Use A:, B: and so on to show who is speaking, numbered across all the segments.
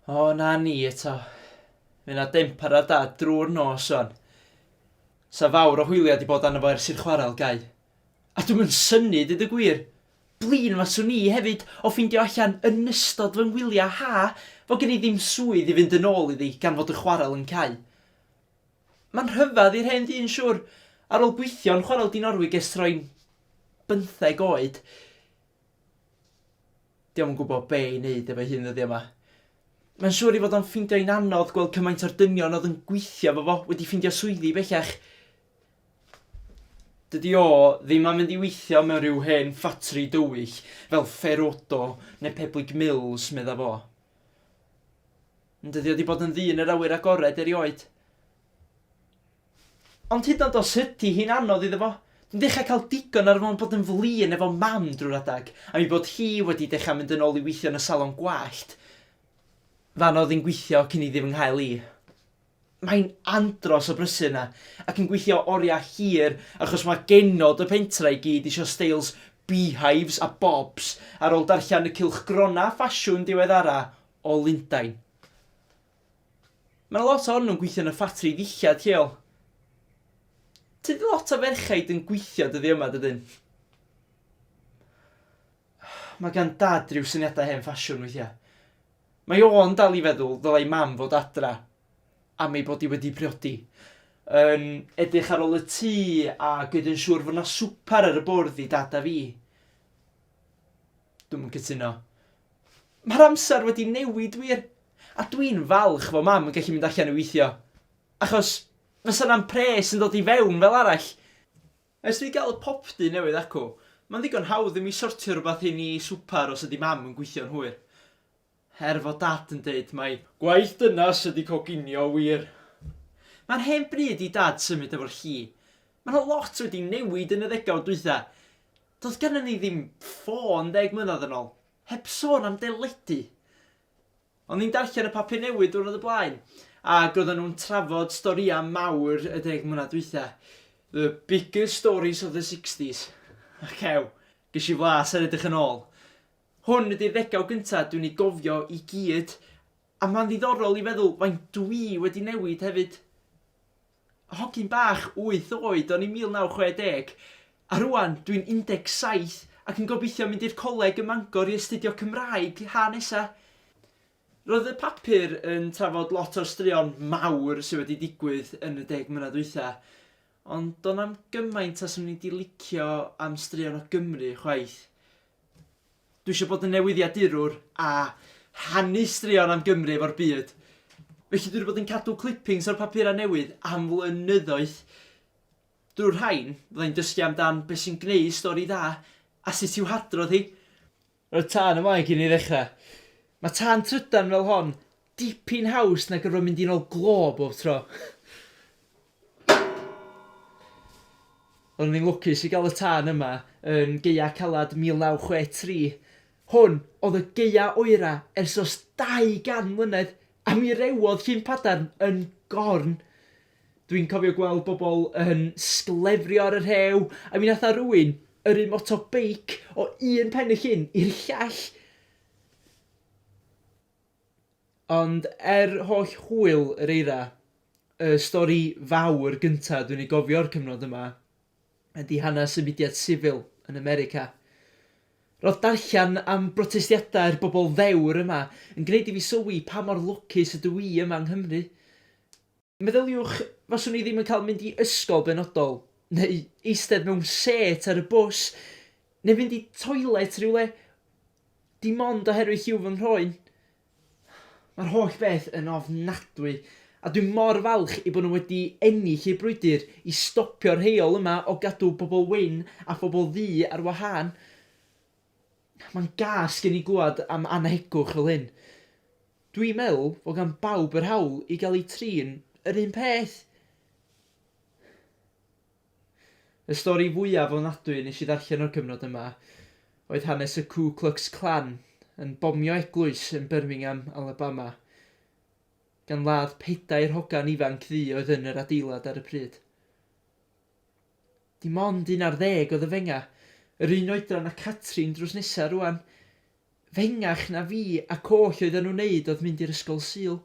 A: O, na ni eto. Mae yna dempar ar dad drwy'r nos o'n. Sa fawr o hwyliau di bod arno fo ers i'r chwarael gau. A dwi'n mynd syni, dyd y gwir. Blin fas o'n i hefyd o ffeindio allan yn ystod fy ngwyliau ha fo gen i ddim swydd i fynd yn ôl iddi gan fod y chwarael yn cau. Mae'n rhyfedd i'r hen ddyn siŵr. Ar ôl gweithio yn Chwarel Dinorwig ers troi'n bymtheg oed, 'di o'm yn gwybod be' i wneud efo'i hun ddyddiau 'ma. Mae'n siŵr ei fod o'n ffeindio hi'n anodd gweld cymaint o'r dynion oedd yn gweithio efo fo wedi ffeindio swyddi bellach. Dydy o ddim am fynd i weithio mewn rhyw hen ffatri dywyll fel Ferodo neu Peblig Mills, medda fo. Yn dydi o 'di bod yn ddyn yr awyr agored erioed. Ond hyd yn oed os ydi hi'n anodd iddo fo, dwi'n dechrau cael digon ar fo'n bod yn flin efo Mam drwy'r adeg, am ei bod hi wedi dechrau mynd yn ôl i weithio yn y salon gwallt fan oedd hi'n gweithio cyn iddi fy nghael i. Mae'n andros o brysur 'na, ac yn gweithio oriau hir achos mae genod y pentre i gyd isio steils beehives a bobs ar ôl darllen y cylchgronau ffasiwn diweddara o Lundain. Mae 'na lot ohonyn nhw'n gweithio yn y ffatri ddillad lleol. Tydi lot o ferchaid yn gweithio dyddi yma, dydyn? Mae gan dad rhyw syniadau hen ffasiwn weithiau. Mae o'n dal i feddwl ddylai mam fod adra am ei bod i wedi priodi. Yn edrych ar ôl y tŷ a gwneud yn siŵr fod 'na swper ar y bwrdd i dad a fi. Dwi'm yn cytuno. Mae'r amser wedi newid wir. A dwi'n falch fod Mam yn gallu mynd allan i weithio. Achos, fysa 'na'm pres yn dod i fewn fel arall. Ers i ni gael y popty newydd acw, mae'n ddigon hawdd i mi sortio rhywbeth i ni swper os ydi Mam yn gweithio'n hwyr. Her fod Dad yn deud mai gwaith dynas ydi coginio wir. Mae'n hen bryd i Dad symud efo lli. Mae 'na lot wedi newid yn y ddegawd dwytha. Doedd gennym ni ddim ffôn ddeg mlynedd yn ôl, heb sôn am deledu. O'n i'n darllen y papur newydd diwrnod o blaen, ac oedden nhw'n trafod storïau mawr y deg mlynedd dwytha. The biggest stories of the sixties. Ac ew, ges i flas ar edrych yn ôl. Hwn ydy'r ddegawd gynta dwi'n ei gofio i gyd a ma'n ddiddorol i feddwl faint dwi wedi newid hefyd. Hogyn bach wyth oed o'n i 1960 a rŵan dwi'n 17 ac yn gobeithio mynd i'r coleg ym Mangor i astudio Cymraeg ha nesa. Roedd y papur yn trafod lot o'r straeon mawr sydd wedi digwydd yn y deg mlynedd dwytha ond do'n na'm gymaint a swn i 'di licio am straeon o Gymru chwaith. Dwi eisiau bod yn newyddiadurwr a rhannu straeon am Gymru efo'r byd. Felly dwi wedi bod yn cadw clippings o'r papurau newydd am flynyddoedd. Drwy'r rhain, fydda i'n dysgu amdan beth sy'n gwneud stori dda a sut i'w hadrodd hi. Roedd tân yn wael gen i i ddechrau. Mae tân trydan fel hon dipyn haws na gorfod mynd i'n ol glo bob tro. Oeddwn i'n lwcus i gael y tân yma yn Gaeaf Caled 1963. Hwn oedd y gaeaf oera ers dros 200 mlynedd a mi rewodd Llyn Padarn yn gorn. Dwi'n cofio gweld bobl yn sglefrio ar y rhew a mi nath 'na rywun yrru moto beic o un pen y llyn i'r llall. Ond er holl hwyl yr eira, y stori fawr gynta' dwi'n ei gofio o'r cyfnod yma ydi hanes y mudiad sifil yn America. Ro'dd darllan am brotestiadau'r bobl ddewr yma yn gneud i fi sylwi pa mor lwcus ydw i yma yng Nghymru. Meddyliwch, faswn i ddim yn cael mynd i ysgol benodol, neu eistedd mewn sêt ar y bws, neu fynd i toilet rhywle, dim ond oherwydd lliw fy nghroen. Mae'r holl beth yn ofnadwy, a dwi mor falch ei bod nhw wedi ennill eu brwydr i stopio'r heol yma o gadw pobl wyn a phobl ddu ar wahân. Mae'n gas gen i glywed am annhegwch fel hyn. Dwi'n meddwl fod gan bawb yr hawl i gael eu trin yr un peth. Y stori fwyaf ofnadwy nes i ddarllen o'r cyfnod yma oedd hanes y Ku Klux Klan yn bomio eglwys yn Birmingham, Alabama, gan ladd pedair hogan ifanc ddu oedd yn yr adeilad ar y pryd. Dim ond un ar ddeg oedd yn fengach, yr un oedran â Catrin drws nesa rŵan. Fengach na fi ac oll oeddan nhw'n neud oedd mynd i'r ysgol Sul.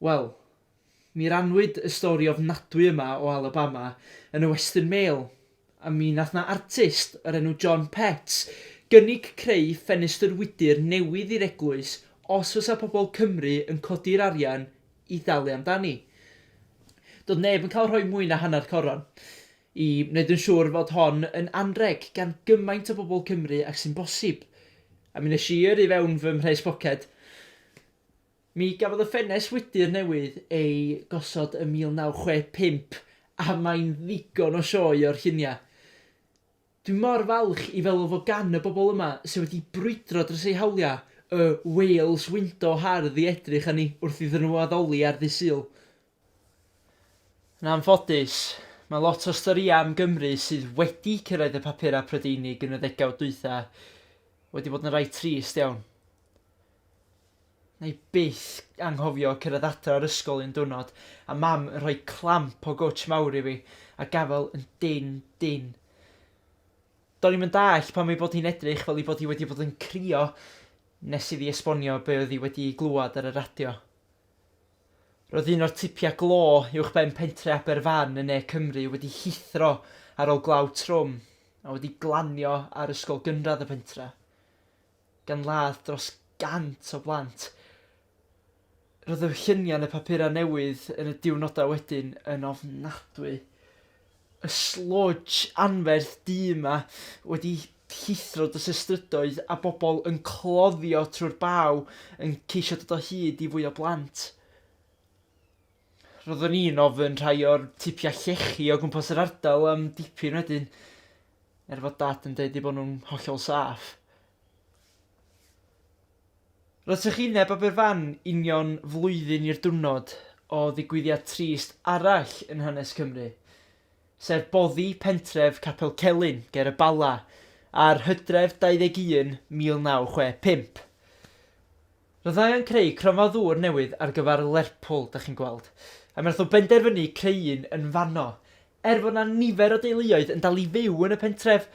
A: Wel, mi rannwyd y stori ofnadwy yma o Alabama yn y Western Mail, a mi nath 'na artist o'r enw John Petts gynnig creu ffenestr wydr newydd i'r eglwys os fysa pobl Cymru yn codi'r arian i ddalu amdani. Doedd neb yn cael rhoi mwy na hanner coron i wneud yn siŵr fod hon yn anrheg gan gymaint o bobl Cymru ag sy'n bosib. A mi nes i yrru fewn fy mhres poced. Mi gafodd y ffenest wydr newydd ei gosod ym 1965 a mae'n ddigon o sioe o'r lluniau. Dwi mor falch i feddwl fod gan y bobl yma sydd wedi brwydro dros eu hawliau y 'Wales Window' hardd i edrych arni wrth iddyn nhw addoli ar ddydd Sul. Yn anffodus, mae lot o'r storïau am Gymru sydd wedi cyrraedd y papurau Prydeinig yn y ddegawd dwytha wedi bod yn rai trist iawn. Wna i byth anghofio cyrraedd adra o'r ysgol un diwrnod a Mam yn rhoi clamp o gwtsh mawr i fi, a gafael yn dynn, dynn. Do'n i'm yn dallt pam ei bod hi'n edrych fel ei bod hi wedi bod yn crio nes iddi esbonio be oedd hi wedi ei glywed ar y radio. Roedd un o'r tipiau glo uwchben pentre Aberfan yn ne Cymru wedi llithro ar ôl glaw trwm a wedi glanio ar ysgol gynradd y pentre. gan ladd dros 100 o blant. Roedd y lluniau yn y papurau newydd yn y diwrnodau wedyn yn ofnadwy. Y sludge anferth du yma wedi llithro dros y strydoedd a bobl yn cloddio trwy'r baw yn ceisio dod o hyd i fwy o blant. Roeddwn i'n ofyn rhai o'r tipiau llechi o gwmpas yr ardal am dipyn wedyn, er fod Dad yn deud eu bod nhw'n hollol saff. Roedd trychineb Aberfan union flwyddyn i'r diwrnod o ddigwyddiad trist arall yn hanes Cymru, sef boddi pentref Capel Celyn ger y Bala ar Hydref 21, 1965. Fyddai yn creu cronfa ddŵr newydd ar gyfer Lerpwl, dach chi'n gweld, a mi nath nhw benderfynu creu un yn fanno. Er fod 'na nifer o deuluoedd yn dal i fyw yn y pentref,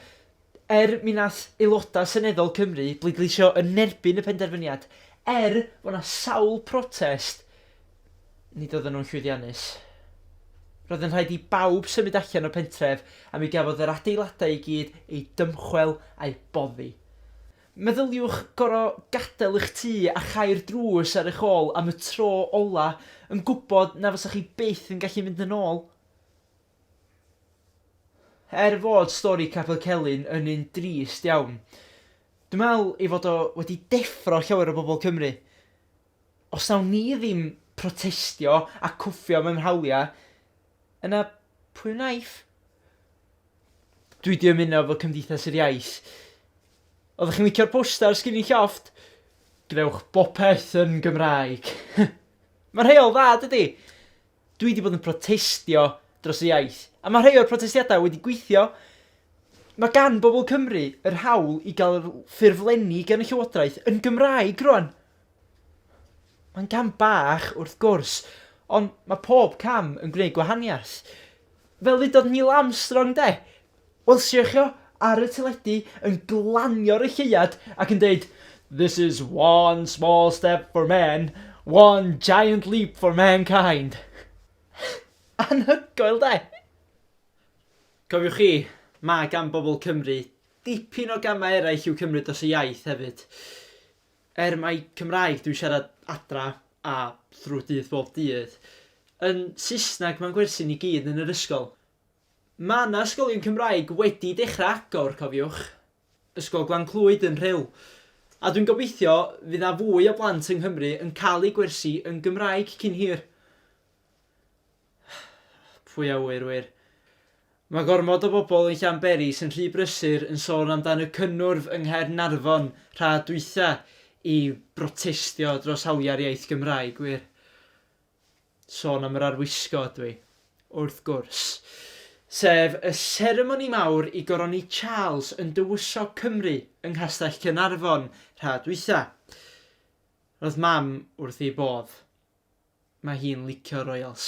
A: er mi nath aelodau seneddol Cymru bleidleisio yn erbyn y penderfyniad, er fod 'na sawl protest, nid oedden nhw'n llwyddiannus. Roedd yn rhaid i bawb symud allan o'r pentref a mi gafodd yr adeiladau i gyd eu dymchwel a'u boddi. Meddyliwch gorfod gadael eich tŷ a chau'r drws ar eich ôl am y tro ola', yn gwybod na fysech chi byth yn gallu mynd yn ôl. Er fod stori Capel Celyn yn un drist iawn, dwi'n meddwl ei fod o wedi deffro llawer o bobl Cymru. Os nawn ni ddim protestio a cwffio mewn hawliau, yna pwy wnaiff? Dwi 'di ymuno efo Cymdeithas yr Iaith. Oeddech chi'n licio'r posters gin i llofft? Gwnewch bopeth yn Gymraeg. Mae rhai o'n dda, dydi? Dwi 'di bod yn protestio dros y iaith, a mae rhai o'r protestiadau wedi gweithio. Mae gan bobl Cymru yr hawl i gael ffurflenni gan y Llywodraeth yn Gymraeg rwan. Mae'n gam bach, wrth gwrs, ond mae pob cam yn gwneud gwahaniaeth. Fel ddudodd Neil Armstrong 'de? Welsiwch o ar y teledu yn glanio ar y lleuad ac yn dweud 'This is one small step for man, one giant leap for mankind'. Anhygoel 'de? Cofiwch chi, mae gan bobl Cymru dipyn o gamau eraill i'w cymryd dros y iaith hefyd. Er mai Cymraeg dwi'n siarad adra a thrwy dydd bob dydd, yn Saesneg mae'n gwersi ni gyd yn yr ysgol. Mae 'na ysgolion Cymraeg wedi dechrau agor, cofiwch, Ysgol Glan Clwyd yn Rhyl, a dwi'n gobeithio fydd 'na fwy o blant yng Nghymru yn cael eu gwersi yn Gymraeg cyn hir. Pwy a ŵyr wir. Mae gormod o bobl yn Llanberis yn rhy brysur yn sôn amdan y cynnwrf yng Nghaernarfon rha dwytha i brotestio dros hawliau'r iaith Gymraeg wir. Sôn am yr arwisgo ydw i. Wrth gwrs. Sef y seremoni mawr i goroni Charles yn Dywysog Cymru yng Nghastell Caernarfon rha dwytha. Roedd mam wrth ei bodd. Mae hi'n licio'r Royals.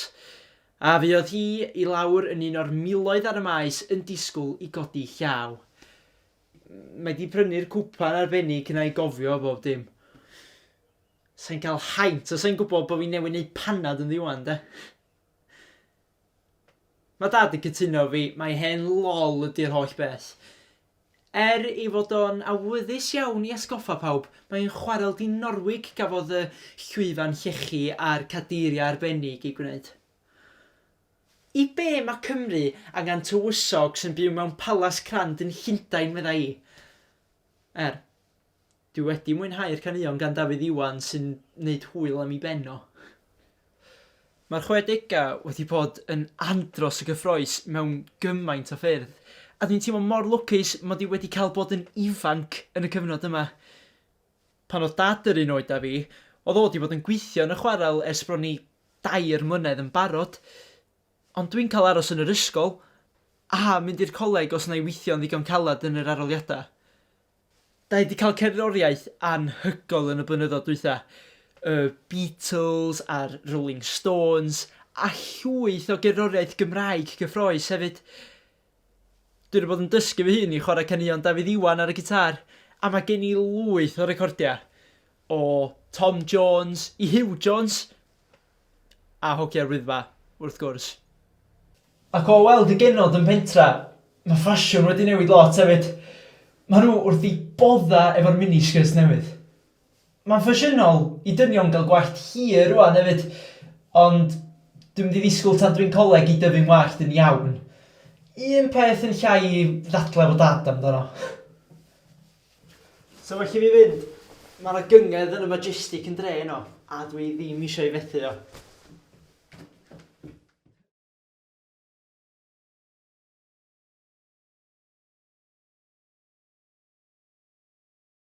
A: A fuodd hi i lawr yn un o'r miloedd ar y maes yn disgwl i godi llaw. Mae 'di prynu'r cwpan arbennig 'na i gofio bob dim. Sai'n cael haint, a sai'n gwybod bod fi newydd neud panad ynddi ŵan, de. Mae dad yn cytuno 'fo fi, mae hen lol ydi'r holl beth. Er ei fod o'n awyddus iawn i atgoffa pawb, mae'n chwarel di-Norwig gafodd y llwyfan llechi a'r cadeiriau arbennig eu gwneud. I be mae Cymru angen tywysog sy'n byw mewn palas crand yn Llundain, medda i? Er. Dwi wedi mwynhau'r caneuon gan Dafydd Iwan sy'n neud hwyl am 'i ben o. Mae'r chwedegau wedi bod yn andros o gyffroes mewn gymaint o ffyrdd, a dwi'n teimlo mor lwcus mod i wedi cael bod yn ifanc yn y cyfnod yma. Pan oedd Dad yr un oed â fi, oedd o wedi bod yn gweithio yn y chwarel ers bron i dair mlynedd yn barod, ond dwi'n cael aros yn yr ysgol a mynd i'r coleg os wna i weithio'n ddigon caled yn yr arholiadau. Da ni 'di cael cerddoriaeth anhygoel yn y blynyddoedd dwytha. Y Beatles a'r Rolling Stones a llwyth o gerddoriaeth Gymraeg cyffrous hefyd. Dwi 'di bod yn dysgu fy hun i chwarae caneuon Dafydd Iwan ar y gitar a mae gen i lwyth o recordiau o Tom Jones i Huw Jones. A hocie'r Wyddfa, wrth gwrs. Ac o weld y genod yn pentra, mae ffasiwn wedi newid lot hefyd. Maen nhw wrth eu boddau efo'r miniskirts newydd. Mae'n ffasiynol i dynion gael gwallt hir rŵan hefyd, ond dwi'n mynd i ddisgwyl tan dwi'n coleg i dyfu'n wallt yn iawn. Un peth yn llai i ddadlau efo Dad amdano. So well i fi fynd. Mae yna gynged yn y Majestic yn dre yno, a dwi ddim eisiau ei fethu o.